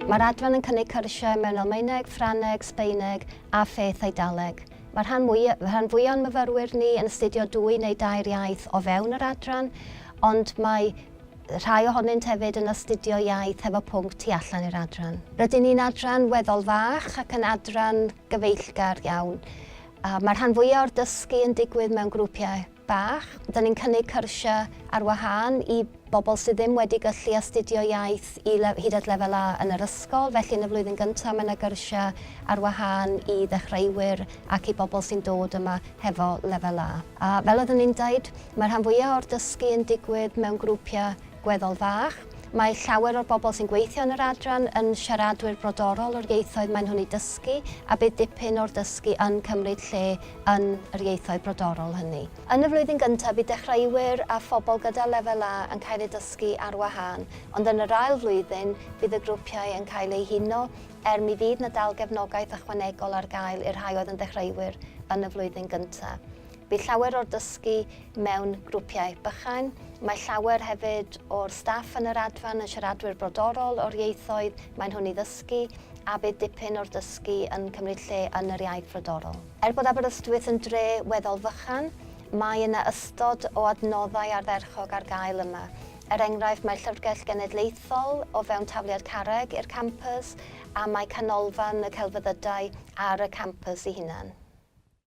Mae'r adran yn cynnig cyrsiau mewn Almaeneg, Ffrangeg, Sbaeneg a pheth Eidaleg. Mae'r rhan mwyaf, rhan fwyaf o'n myfyrwyr ni yn astudio dwy neu dair iaith o fewn yr adran, ond mae rhai ohonynt hefyd yn astudio iaith hefo pwnc tu allan i'r adran. Rydyn ni'n adran weddol fach ac yn adran gyfeillgar iawn. Mae rhan fwyaf o'r dysgu yn digwydd mewn grwpiau bach. Dyn ni'n cynnig cyrsiau ar wahân i bobl sydd ddim wedi gyllu astudio iaith i hyd at lefel A yn yr ysgol, felly yn y flwyddyn gyntaf mae yna gyrsiau ar wahân i ddechreuwyr ac i bobl sy'n dod yma hefo lefel A. Fel oeddwn i'n deud, mae rhan fwyaf o'r dysgu yn digwydd mewn grwpiau Gweddol fach. Mae llawer o'r bobl sy'n gweithio yn yr adran yn siaradwyr brodorol o'r ieithoedd maen nhw'n eu dysgu a bydd dipyn o'r dysgu yn cymryd lle yn yr ieithoedd brodorol hynny. Yn y flwyddyn gyntaf bydd dechreuwyr a phobl gyda Lefel A yn cael eu dysgu ar wahân, ond yn yr ail flwyddyn bydd y grwpiau yn cael eu huno er mi fydd 'na dal gefnogaeth ychwanegol ar gael i'r rhai oedd yn ddechreuwyr yn y flwyddyn gyntaf. Bydd llawer o'r dysgu mewn grwpiau bychain. Mae llawer hefyd o'r staff yn yr Adfan yn siaradwyr brodorol o'r ieithoedd maen nhw'n ei ddysgu a bydd dipyn o'r dysgu yn cymryd lle yn yr iaith frodorol. Er bod Aberystwyth yn dre weddol fychan, mae yna ystod o adnoddau ardderchog ar gael yma. Er enghraifft, mae'r Llyfrgell Genedlaethol o fewn tafliad carreg i'r campws a mae Canolfan y Celfyddydau ar y campws ei hunan.